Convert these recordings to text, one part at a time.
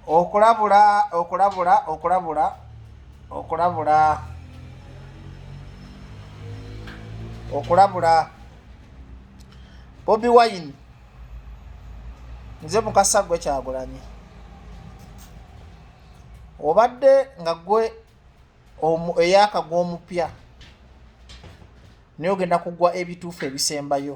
okulabula okulabula okulabula okulabula okulabula bobi wine nze mukasa gwe kyagulanyi obadde nga gwe eyakagwa omupya naye ogenda kugwa ebituufu ebisembayo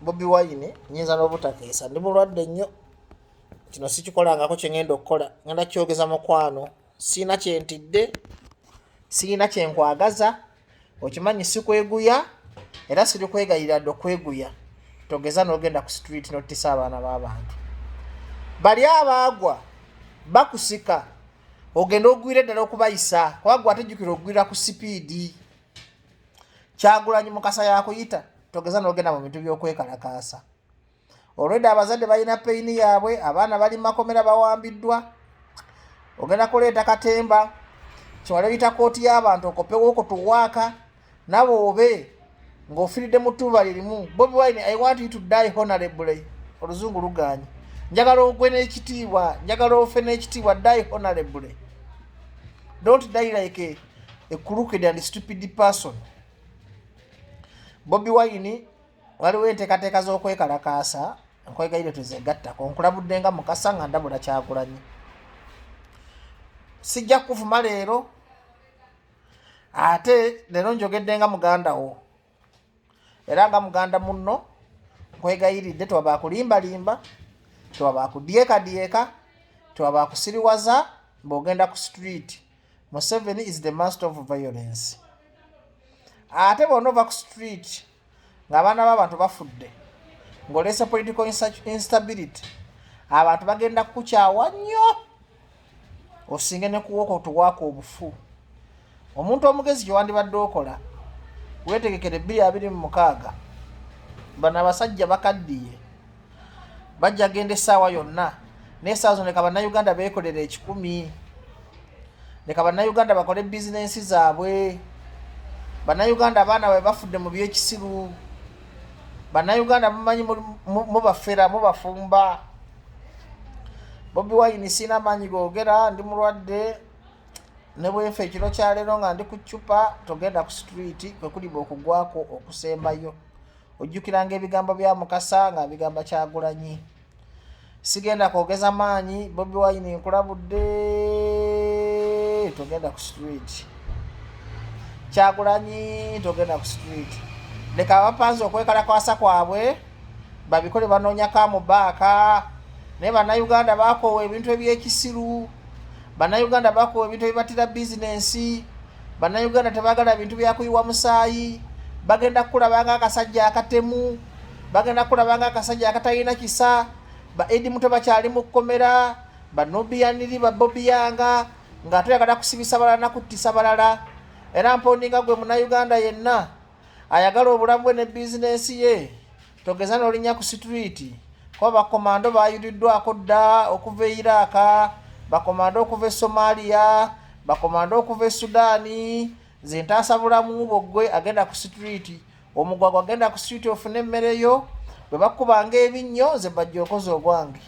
bobi wine nyinza n'obutakeesa ndi mulwadde nnyo kino sikikolangako kyengenda okukola ngenda kyogeza mukwano siina kyentidde siina kyenkwagaza okimanyi sikweguya era siri kwegayira dde okweguya togeza nogenda ku street notisa abaana b'abantu bali abaagwa bakusika ogenda ogwira eddala okubayisa kubagwa atajjukira okugwira ku sipiidi kyagulanyi mukasa yakuyita togeza nogenda mu bintu byokwekalakaasa olwedde abazadde balina peyini yaabwe abaana bali makomera bawambiddwa ogenda kuleeta katemba kiwala oyita kooti y'abantu okopewo okutuwaaka nawe obe ng'ofiridde mu ttuba lirimu bobi wine i want you to die honorably oluzungu luganye njagala ogwe n'ekitiibwa njagala ofe n'ekitiibwa die honorably don't die like a a crooked and stupid person bobi wine waliwo enteekateeka z'okwekalakaasa nkwegaire tuzegattako nkulabudde nga mukasa nga ndabula kyagulanyi sijja kukuvuma leero ate leero njogedde nga muganda wo era nga muganda munno nkwegayiridde tewaba akulimbalimba tewaba akudyekadyeka tewaba akusiriwaza mbaogenda ku street museven is the master of violence ate bona ova ku street ngaabaana baabantu bafudde ng'oleese political instability abantu bagenda kukukyawa nnyo osinge ne kuwoko tuwaako obufu omuntu omugezi kyewandibadde okola wetegekere bbiri abiri mu mukaaga bano abasajja bakaddiye bajja genda essaawa yonna naye saawa zino leka bannayuganda beekolera ekikumi leka bannayuganda bakole bizinensi zaabwe bannayuganda abaana babe bafudde mu byekisiru bannayuganda mumanyi mubafera mubafumba bobi wayini siina amaanyi googera ndi mulwadde ne bwenfa ekiro kyaleero nga ndi ku ccupa togenda ku situliiti kwe kuliba okugwako okusembayo ojjukiranga ebigambo bya mukasa nga bigamba kyagulanyi sigenda kwogeza maanyi bobi wayini nkulabudde togenda ku situliiti kyagulanyi togenda ku situliiti leka abapanzi okwekalakwasa kwabwe babikole banoonya kamubaaka naye bannayuganda bakoowa ebintu ebyekisiru bannayuganda bakoowa ebintu ebibatira bizinensi bannayuganda tebagala bintu byakuyiwa musaayi bagenda kukulabanga akasajja akatemu bagenda kukulabanga akasajja akatalina kisa ba edi muto bakyali mu kukomera banobiyaniri babobiyanga nga tuyagala kusibisa balala nakuttisa balala era mpondi nga gwe munauganda yenna ayagala obulamu bwe ne bizinensi ye togeza n'olinya ku situliiti kuba bakomando baayuliddwako dda okuva e iraaka bakomando okuva e somaaliya bakomando okuva e sudaani nze ntaasa bulamu bwo ggwe agenda ku situliiti omugwagwa agenda ku situliiti ofune emmere yo bwe bakubanga ebinnyo nze bajja okoza ogwange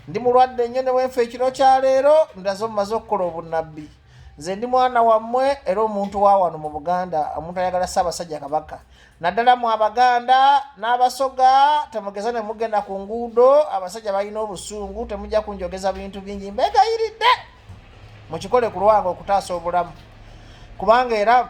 ndi mulwadde nnyo ne wenfa ekiro kya leero ndaze omumaze okukola obunnabbi nze ndi mwana wammwe era omuntu wa wano mu buganda omuntu ayagala ssaabasajja kabaka naddala mu abaganda n'abasoga temugeza ne mugenda ku nguudo abasajja balina obusungu temujja kunjogeza bintu bingi mbegayiridde mukikole ku lwange okutaasa obulamu kubanga era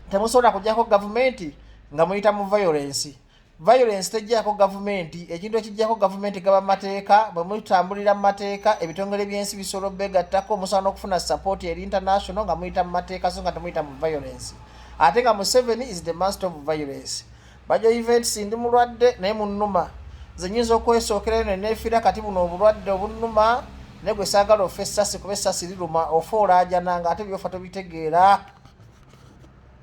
temusobola kujjako gavumenti nga muyita mu violensi violence tejjako gavumenti ekintu ekijjako gavumenti gaba mateeka bwe mutambulira mu mateeka ebitongole by'ensi bisobola obegattako musobola n'okufuna support eri international nga muyita mu mateeka so nga temuyita mu violence ate nga museveni is the master of violence bajo events ndi mulwadde naye munuma zenyinza okwesookerayo ne neefira kati buno obulwadde obunuma naye gwe saagala ofa essasi kuba essasi liruma ofa olaajana nga ate byofa tobitegeera